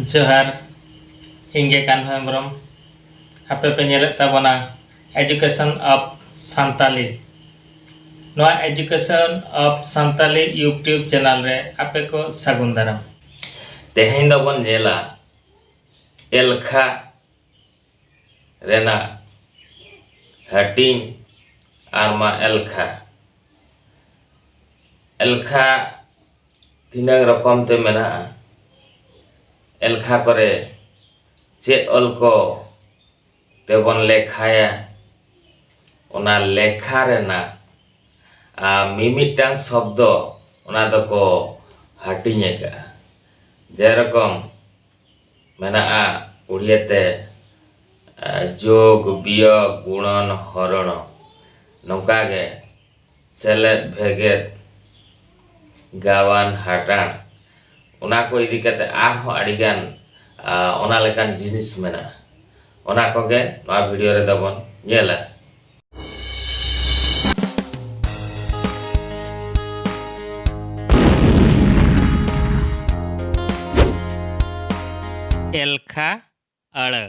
ᱡᱚᱦᱟᱨ ᱤᱧ ᱜᱮ ᱠᱟᱱᱦᱚ ᱦᱮᱢᱵᱨᱚᱢ ᱟᱯᱮ ᱯᱮ ᱧᱮᱞᱮᱫ ᱛᱟᱵᱚᱱᱟ ᱮᱡᱩᱠᱮᱥᱚᱱ ᱚᱯᱷ ᱥᱟᱱᱛᱟᱞᱤ ᱱᱚᱣᱟ education of Santali YouTube channel ᱨᱮ ᱟᱯᱮ ᱠᱚ ᱥᱟᱹᱜᱩᱱ ᱫᱟᱨᱟᱢ ᱛᱮᱦᱮᱧ ᱫᱚᱵᱚᱱ ᱧᱮᱞᱟ ᱮᱞᱠᱷᱟ ᱨᱮᱱᱟᱜ ᱦᱟᱹᱴᱤᱧ ᱟᱨ ᱢᱟ ᱮᱞᱠᱷᱟ ᱮᱞᱠᱷᱟ ᱛᱤᱱᱟᱹᱝ ᱨᱚᱠᱚᱢ ᱛᱮ ᱢᱮᱱᱟᱜᱼᱟ ᱮᱞᱠᱷᱟ ᱠᱚᱨᱮ ᱪᱮᱫ ᱚᱞ ᱠᱚ ᱛᱮᱵᱚᱱ ᱞᱮᱠᱷᱟᱭᱟ ᱚᱱᱟ ᱞᱮᱠᱷᱟ ᱨᱮᱱᱟᱜ ᱢᱤᱢᱤᱫᱴᱟᱝ ᱥᱚᱵᱫᱚ ᱚᱱᱟ ᱫᱚᱠᱚ ᱦᱟᱹᱴᱤᱧ ᱟᱠᱟᱜᱼᱟ ᱡᱮᱨᱚᱠᱚᱢ ᱢᱮᱱᱟᱜᱼᱟ ᱩᱲᱤᱭᱟ ᱛᱮ ᱡᱳᱜᱽ ᱵᱤᱭᱳᱜᱽ ᱜᱩᱬᱚᱱ ᱦᱚᱨᱚᱬᱚ ᱱᱚᱝᱠᱟ ᱜᱮ ᱥᱮᱞᱮᱫ ᱵᱷᱮᱜᱮᱫ ᱜᱟᱵᱟᱱ ᱦᱟᱴᱟᱬ ᱚᱱᱟ ᱠᱚ ᱤᱫᱤ ᱠᱟᱛᱮ ᱟᱨᱦᱚᱸ ᱟᱹᱰᱤ ᱜᱟᱱ ᱚᱱᱟ ᱞᱮᱠᱟᱱ ᱡᱤᱱᱤᱥ ᱢᱮᱱᱟᱜᱼᱟ ᱚᱱᱟ ᱠᱚᱜᱮ ᱱᱚᱣᱟ ᱵᱷᱤᱰᱤᱭᱳ ᱨᱮᱫᱚ ᱵᱚᱱ ᱧᱮᱞᱟ ᱮᱞᱠᱷᱟ ᱟᱹᱲᱟᱹ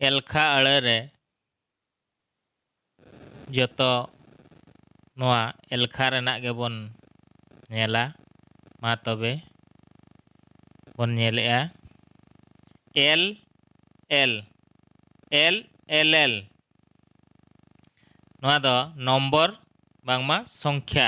ᱮᱞᱠᱷᱟ ᱟᱹᱲᱟᱹ ᱨᱮ ᱡᱚᱛᱚ ᱱᱚᱣᱟ ᱮᱞᱠᱷᱟ ᱨᱮᱱᱟᱜ ᱜᱮᱵᱚᱱ ᱧᱮᱞᱟ ᱢᱟ ᱛᱚᱵᱮ ᱵᱚᱱ ᱧᱮᱞᱮᱜᱼᱟ L L L L L ᱱᱚᱣᱟ ᱫᱚ ᱱᱚᱢᱵᱚᱨ ᱵᱟᱝᱢᱟ ᱥᱚᱝᱠᱷᱭᱟ